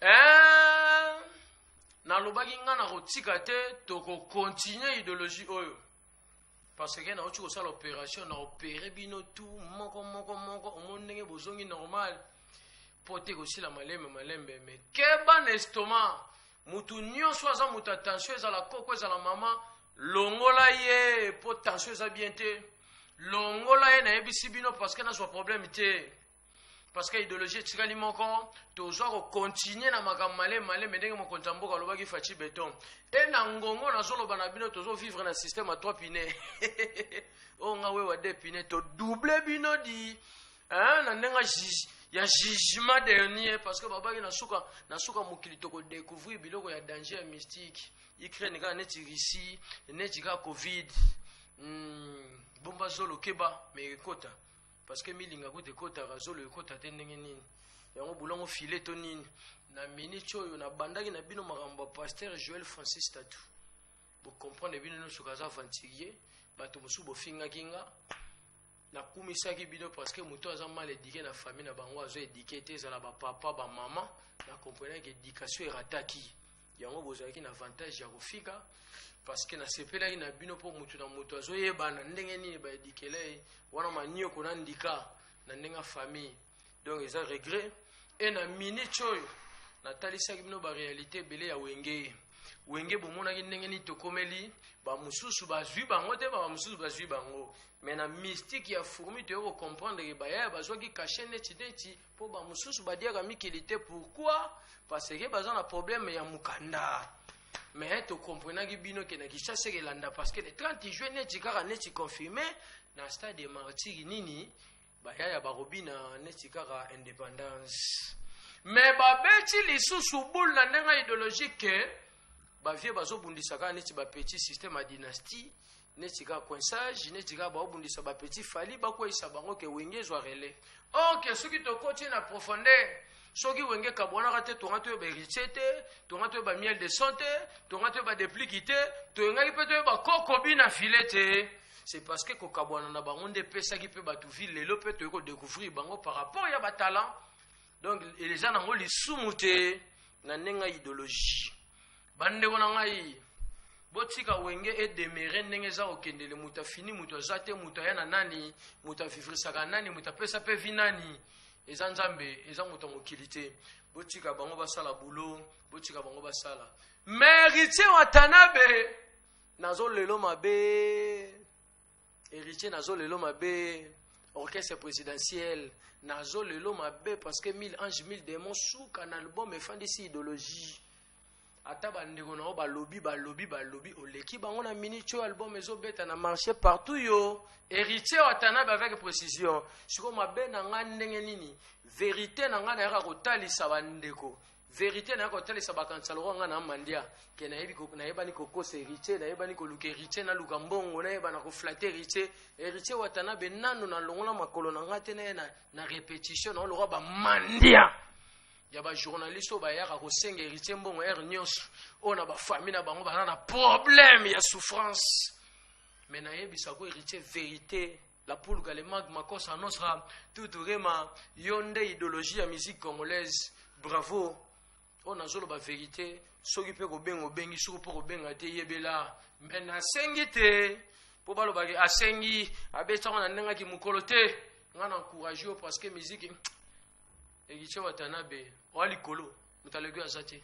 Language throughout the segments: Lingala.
Eh, nalobaki ngai nakotika te tokokontinue ideologie oyo parce que nauti kosala opération na opere bino tu moko moko moko omoni ndenge bozongi normal mpo te kosila malembe malembe me keba na estoma motu nyonso aza moto ya tension ezala koko ezala mama longola ye mpo tension eza bien te longola ye nayebisi bino parceke nazwa problème te parce que idéologie etikali moko tozwa kokontinue na makambo malemi malemi ndenge mokonzi ya mboka alobaki faci beton e na ngongo nazoloba na bino tozovivre na système ya trois pine oyo oh, nga wewa de pine todouble bino di na ndenge ya jugement dernier parce que babaki na suka na suka mokili tokodecouvrir biloko ya danger ya mystique ukraine kaka neti russie neti kaka covid mm, bomba zolo keba me ekota parce que milinga kutu ekotaka zolo ekota te ndenge nini yango bolango file to nini na minute oyo nabandaki na bino makambo ya pasteur joel francis tatu bocomprendre bino nyonso kaza aventurier bato mosusu bofingaki nga nakumisaki bino parce que moto aza mal edike na famille na bango azo edike te ezala bapapa bamama na comprenaki edikation erataki yango bozalaki na avantage ya kofika parceke nasepelaki na bino mpo motu na motu azoyebana ndenge nini baedikela ye wana manioko na ndika na ndenge ya famille donc eza regret e na minute oyo natalisaki bino barealité ebele ya wenge wenge bomonaki ndenge nini tokomeli bamosusu bazwi bango te bamosusu bazwi bango me na mystique ya fourmi toyei kocomprendre ke bayaya bazwaki kashe neti neti po ba mususu badiaka mikili te pourquoi parce que baza na problème ya mukanda mais tokomprenaki bino ke na kinshasa ekelanda parce que le 30 juin neti kaka neti confirme na stade ya martiri nini bayaya bakobina neti kaka indépendance mais babeti lisusu boule na ndenge ideologique ba vieux bazo bundisa kaka neti ba petit système ya dynastie neti kaka coinsage neti kaka baobundisa ba petit fali bakweyisa bango ke wenge ezwa relais or ke soki tokoti na profondeur soki wenge kabwanaka te tonga toyeba héritier te tonga toyeba miel de son te tonga toyeba depliki te toyengaki mpe toyeba kokobi na file te c'est parce que kokabwana na bango nde epesaki mpe bato ville lelo mpe toyei kodecouvrir bango par rapport ya batalant donc eza nango lisumu te na ndenge ya idéologie bandeko na ngai botika wenge edemere ndenge eza kokendele moto afini moto aza te moto aya na nani moto avivrisaka nani moto apesa mpe vi nani eza nzambe eza moto ya mokili te botika bango basala bulo botika bango basala meritier watanabe nazo lelo mabe Héritier nazo lelo mabe orchestre présidentiel nazo lelo mabe parce que 1000 anges 1000 démons suka na album efandisi idéologie ata bandeko na yo balobi balobi balobi oleki bango na minute oyo album ezobeta na marché partout yo héritier watanabe avec précision sikoyo mabe na ngai ndenge nini verité na ngai nayaka kotalisa bandeko verite na ko talisa ba kanisa loko nga na mandia ke na yebi ko na yebani ko kosa heritier na yebani ko luka heritier na luka mbongo na yeba na ko flatter heritier heritier watana be nanu na longola makolo na ngate na na, na repetition na loko ba mandia ya ba journaliste ba yaka ko senga heritier mbongo er nyos o na ba famille na bango ba na problème ya souffrance mais na yebisa ko heritier verite La pulga le magma cosa nostra tutu rema yo nde idéologie ya musique congolaise bravo oyo nazoloba verité soki mpe kobenga obengi soki mpo kobenga te yebela me nasengi te mpo balobaki asengi abetango na ndengaki mokolo te ngai na encourage yo parce que miziki ekice watanabe oya likolo moto aleki aza te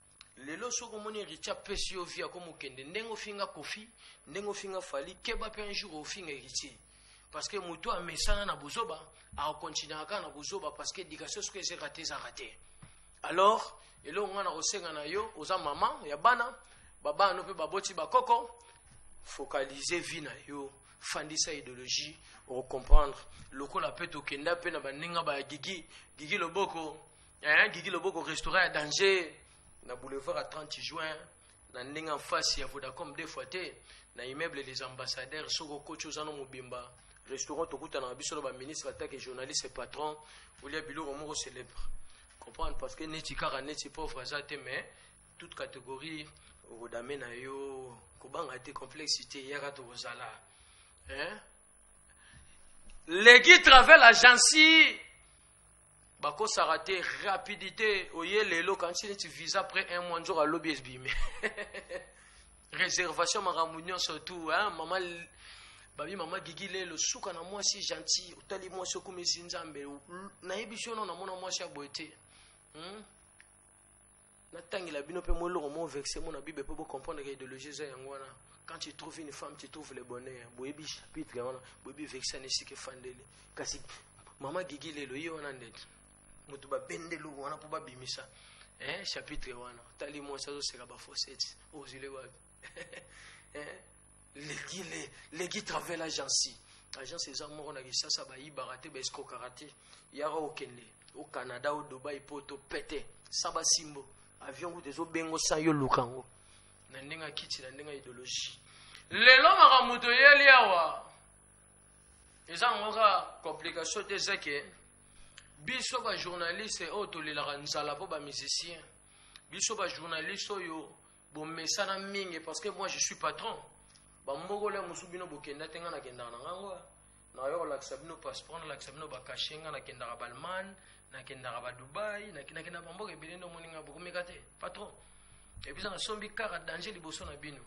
lelo soki omoni richa apesi yo vi akomi okende ndenge ofinga kofi ndenge ofinga fali keba mpe un jour ofinga héritier parce que moto amesana na buzoba akokontinuaka kaka na buzoba parce que éducation soki eze rate eza rate alors eloko ngai na kosenga na yo oza mama ya bana babana no mpe baboti bakoko focalize vie na yo fandisa idéologie okokomprendre lokola mpe tokenda mpe na baninga ba gigi gigi loboko eh, gigi loboko restaurant ya danger na boulevard ya 30 juin na ndenge en face ya vodacom deux fois te na immeuble des ambassadeurs soki okoti oza no mobimba restaurant tokutana na biso na baministre atake journaliste patron olia biloko moko célèbre comprendre parce que neti kaka neti pauvre aza te mais toute catégorie okodame na yo kobanga te complexe te yaka tokozala hein? legi travel agency bakosaka te rapidité oye lelo kanisi neti visa après un mois nzoka lobi ebimi réservation makambo nyonso tu mama babi mama gigi lelo suka na mwasi gentil otali mwasi okomisi nzambe nayebi sono namona mwasi ya boye te hmm? natangela bino mpe mwa eloko moko verse mona bible mpo bocomprendre ke idéologie eza yango wana quand tu trouves une femme tu trouves le bonheur boyebi chapitre yango wana boyebi verse wana esika efandeli kasi mama gigi lelo ye wana ndeti moto babende eloko wana mpo babimisa eh, chapitre wana otali mwasi azoseka bafoseti ozwile wapi eh, legi le legi travel agence agence eza moko na kisasa bayibaka te baescrokaka te yaka okende o canada o dubai mpo topete sa basimbo avion kutu ezobengo sa yo luka yango na ndenge akiti na ndenge ya ideologie lelo makambo toyeli awa eza yango ka complication te eza ke biso bajournaliste oyo tolelaka nzala mpo bamusicien biso bajournaliste oyo bomesana mingi parce que moi je suis patron bambokolo ya mosusu bino bokenda te ngai nakendaka na ngango nayo kolakisa bino passeport nalakisa bino bakashe ngai nakendaka ballemagne nakendaka badubai nakenda bamboka ebele nde omoni ngai bokomeka te patron ebisa nasombi kaka danger liboso na bino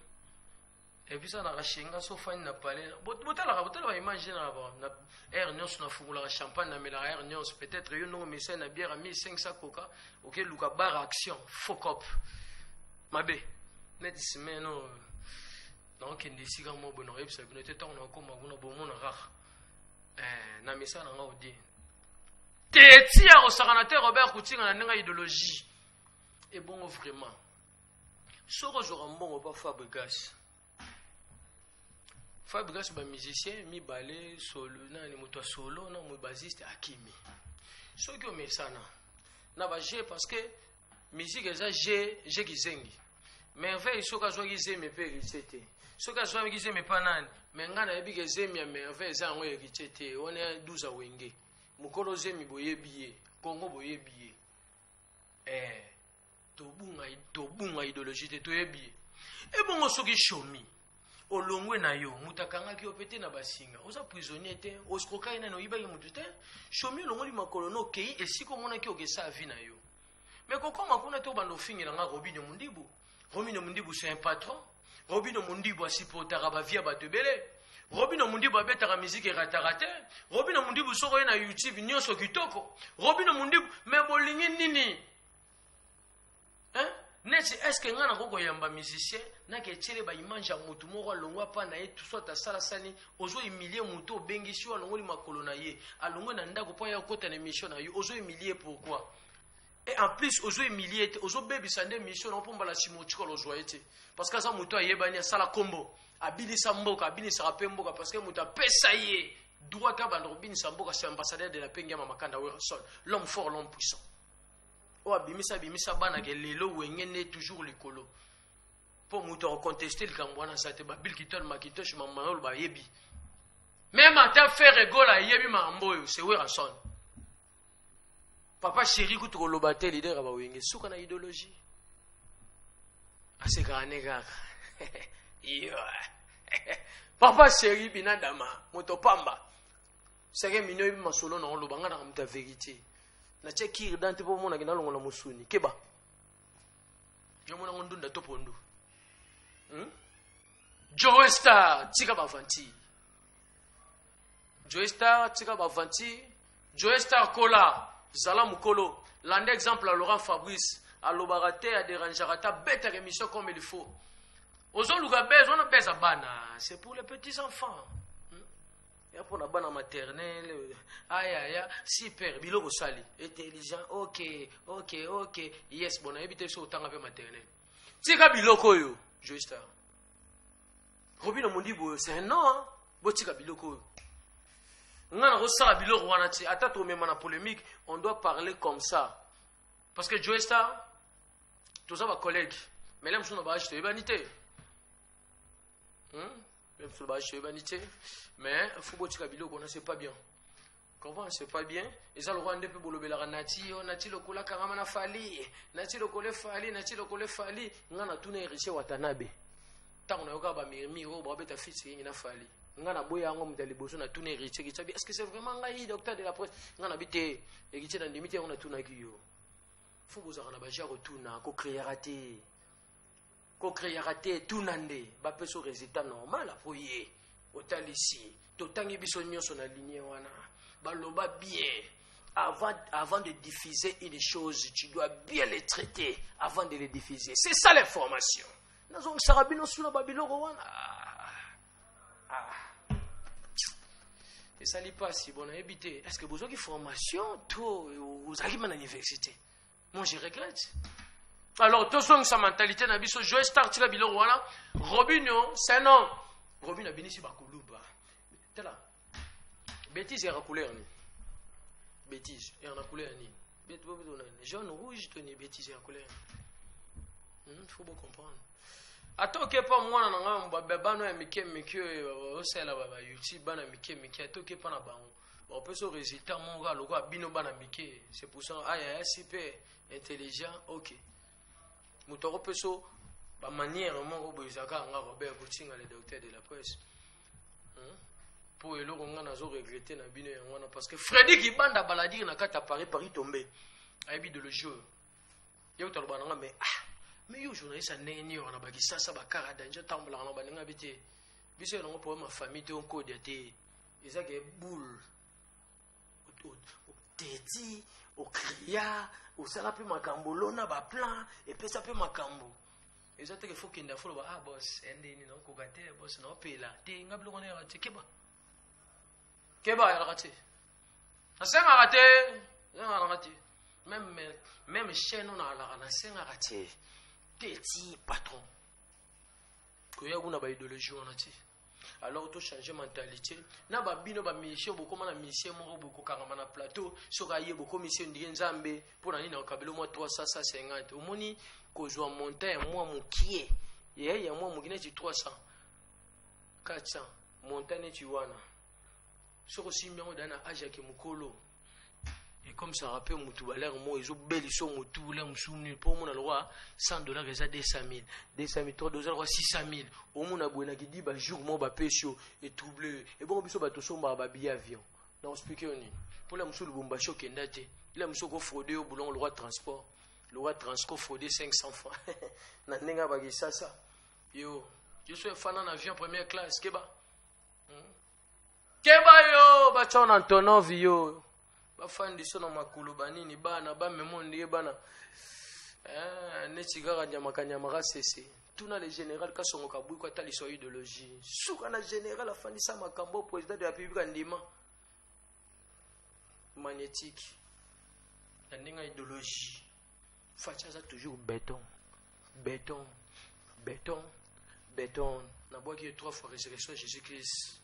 ebisa na kashenga so fani na palais botalaka botalaka image na na air nyonso na fungolaka champagne na melaka air nyonso peut-être yo ndongo mesa na bière 1500 coca oke luka bar action faux cop mabe neti semaine no nakokende esika moko boye nakoyebisa bino te ntango nakokoma kuna bomona kaka eh, na mesa na nga odie te etia kosakana te robert kutinga na ndenge ya idéologie ebongo vraiment soki ozwaka mbongo pa fabrigas fabrigas bamusicien mibale solo nani moto ya solo na mo basiste akimi soki omesana na baje parce que musique eza je je kizengi merveille soki azwaki zemi mpe eritse te soki azwaki zemi mpa nani me ngai nayebi ke zemi ya merveille eza yango eritse te wana 12 awenge mokolo zemi boyebi ye kongo boyebi ye eh. tobunga tobunga ideologie te toyebi ye ebongo soki shomi olongwe na yo moto akangaki yo mpe te na basinga oza prisonnier te oskrokaki nani oyibaki moto te shomi olongoli makolo na okei esika omonaki okesa avi na yo me kokoma kuna te obanda ofingela nga robino mondibu robino mondibu se un patron robino mondibu asipotaka bavi ya bato ebele robino mundibu abetaka miziki erataka te robino mundibu soko ye na youtube nyonso kitoko robino mundibu me bolingi nini hein? neti eske ngai nako koyamba musicien nake etyele baimage ya motu moko alongwa mpa na ye soit asala sani ozo humilie motu obengisi yo alongoli makolo na ye alongwe na ndako mpo aya okota na émission na yo ozo humilie pourquoi et en plus ozo humilie te ozobebisa nde émission nao mpo mbala nsima otikala ozwa ye te parce que aza motu ayebani asala nkombo abinisa mboka abinisaka mpe mboka parce que motu apesa ye droit abanda kobinisa mboka se ambassadeur de la paix ngiama makanda werson l'homme fort l'homme puissant oyo abimisa abimisa bana ke lelo wenge nde toujours likolo mpo moto akoconteste likambo wana sa te babil kitol makitosh mamanolo bayebi meme ata fere gola ayebi makambo oyo se werason papa sheri kutu koloba te lider ya bawenge suka na idéologie asekaka ne kaka papa sheri binadama moto pamba seke mino yebi masolo na oloba nga na moto ya verite natya kiri dante mpo omonaki nalongola mosuni keba jomonango ndunda to pondu hmm? joe star tika bavanti joe star tika bavanti joe star kola zala mokolo landa exemple ya laurent fabrice alobaka te aderangeaka ata betaka émission comme il faut ozoluka bese wana beza bana c'est pour les petits enfants ya mpo na bana maternele ayaya super biloko osali intelligent ok ok ok yes bon nayebi te biso otanga mpe maternele tika biloko oyo joestar robino mondi boyo c'est un nom botika biloko oyo nga nakosala biloko wana ti ata tomema na polémique on doit parler comme ça parce que joestar toza bacollègue mais la mosusu na baage toyebani te hmm? mpe bashi toyebani te mais fo botika biloko wana c'est pas bien comprend c'est pas bien eza lokola nde mpe bolobelaka nati yo nati lokola kangama na fali nati lokola efali nati lokola efali ngai natuna eriche watanabe ntango nayokaka bamirmire oyo babeta fils yengi na fali ngai naboya yango moto ya liboso natuna eriche kicabi est ce que c'est vraiment ngai docteur de la presse ngai nabi te eriche nandimi te yango natunaki yo fo bozalaka na baje ya kotuna kokreaka te Ko creaka te tuna nde ba peso resultat normal apo ye otalisi totangi biso nyonso na ligne wana baloba bien avant, avant de diffuser une chose tu dois bien le traiter avant de le diffuser c'est ça l'information nazongisaka bino suna babiloko wana ah. esali mpasi bonayebi te est ce que bozwaki formation to ozalaki ma na université Moi, je regrette. Alors, sa mentalité na biso, Joe Star tika biloko wana, Robinho, c'est non. Robinho abinisi ba kuluba. Tala. Bêtise ya couleur ni. Bêtise ya na couleur ni. Jaune rouge to ni bêtise ya couleur. Hmm, faut vous comprendre. ata okepa mwana na ngai babebano ya mike mike oyo osalela ba youtube bana mike mike ata okepa na bango opesa résultat moko kaka lokola bino bana mike c'est pour ça aya ya super intelligent ok moto akopesa bamanière moko boye ezalaka yanga robert kotinga le docteur de la presse mpo hmm? eloko ngai nazo regrete na bino yango wana parce que fredi kibanda baladire na kati ya paris paris tombe ayebi ideologie oyo ye kotaloba nanga mais ah mais yo journaliste ya ndenge nini wana bakisasa bakara danger otambolaka na baninga bi te biso yango problème ya famille te onkode ya te eza ke boule oteti okria osala mpe makambo olona baplan epesa mpe makambo eza teke fo kende afo loba ah bos endeni naokoka te bos naopela te nga biloko na yaka te keba keba ayalaka te nasengaka te nalaka te meme meme chaine oyo nalaka nasengaka te te ti patron koya kuna baideologie wana te alors to changer mentalité na ba bino ba musicien bokoma na musicien moko bokokangama na plateau soki aye bokomisi yo ndike nzambe mpo na nini akabelo mwa 350 omoni kozwa montant ya mwa mokie ye ya mwa moki neti 300 400 montant neti wana soki osimbi yango dana age yake mokolo ekomisaka mpe motu balere moko ezobelisa yo motu le mosusu nini mpo omona lokwa 100 dollar eza 200 000 200 000 eza lokwa 600 000 omona boye na kidi bajour moko bapesi yo etrouble yo ebongo biso bato osombaka babiye avion na ospike yo nini mpo la mosusu lubumbashi okenda te la mosusu okofraude yo bolongo lokwa transport lokwa transco fraude 500 franc na ndenge ya bakisasa yo yo so efana na avion première classe keba keba yo batya na ntonovi yo bafandi so na makolo banini bana bamemo ndie bana eh, neti kaka nyamakanyama kasese tuna le général kasongo kabwiko ata liso ya idéologie suka na général afandisa makambo président de la république andima magnétique na ndenge ya idéologie Fatshi aza toujours beton beton beton beton nabwaki ye trois fois résurrection jésus christ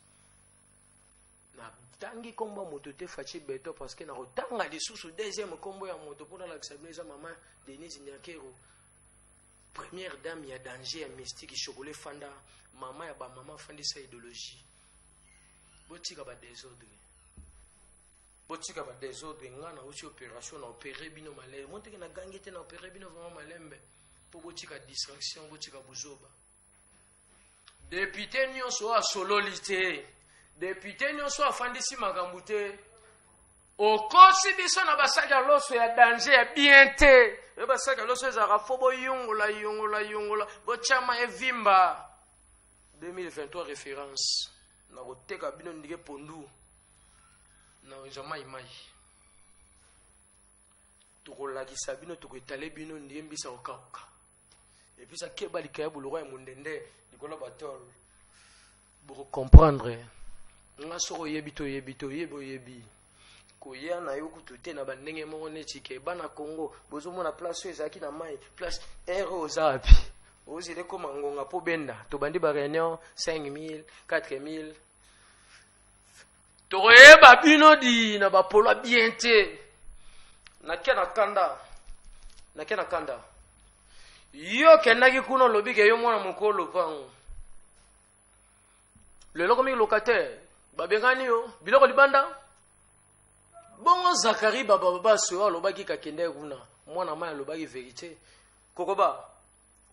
natangi nkombo ya moto te faci beton parce que nakotanga lisusu deuxième nkombo ya moto mpo nalakisa bino eza mama denise nyakero première dame ya danger ya mystique chocolat fanda mama ya bamama afandisa idéologie botika badésordre botika ba desordre nga nauti operation na opere bino malembe moteke na gangi te na opere bino vraiment malembe mpo botika distraction botika buzoba depute nyonso oyo asololi te depute nyonso afandisi makambo te okosi biso na basaki ya loso ya danger ya bien te oyo basaki ya loso ezalaka fo boyungola yungola yungola botyama evimba 2023 référence Nakoteka bino ndike pondu na wenza mai mai. Tokolakisa bino, tokoetale bino ndike mbisa kokauka. Epesa keba likaya boloko ya mondende likolo batol. Boko comprendre. Nga soko oyebi to oyebi to oyebi oyebi. koya na yo kutu te na bandenge moko neti ke bana congo bozomona place oyo ezalaki na mai place ere oyo oza wapi ozela ekoma ngonga mpo benda tobandi bareunion 5000 4000 tokoyeba bino di na bapolo bien te nakya na kanda nakya na kanda yo okendaki kuna olobi ke yo mwana mokolo lopango lelo komi locataire babengani yo biloko libanda bongo zakari babababasi oyo alobaki kakende kuna mwana mai alobaki verite kokoba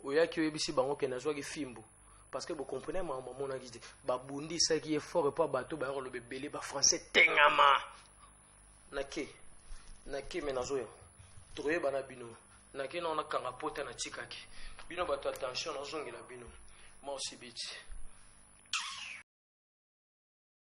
oyaki oyebisi bango ke nazwaki fimbu parce que bocomprene mama mamonaki te babundisaki ye fort epo bato bayaka loba ebele bafrançais tengama nake nake me nazoya tokoyeba na bino nake nao nakanga pota natikaki bino bato ya tension nazongela bino maosibiti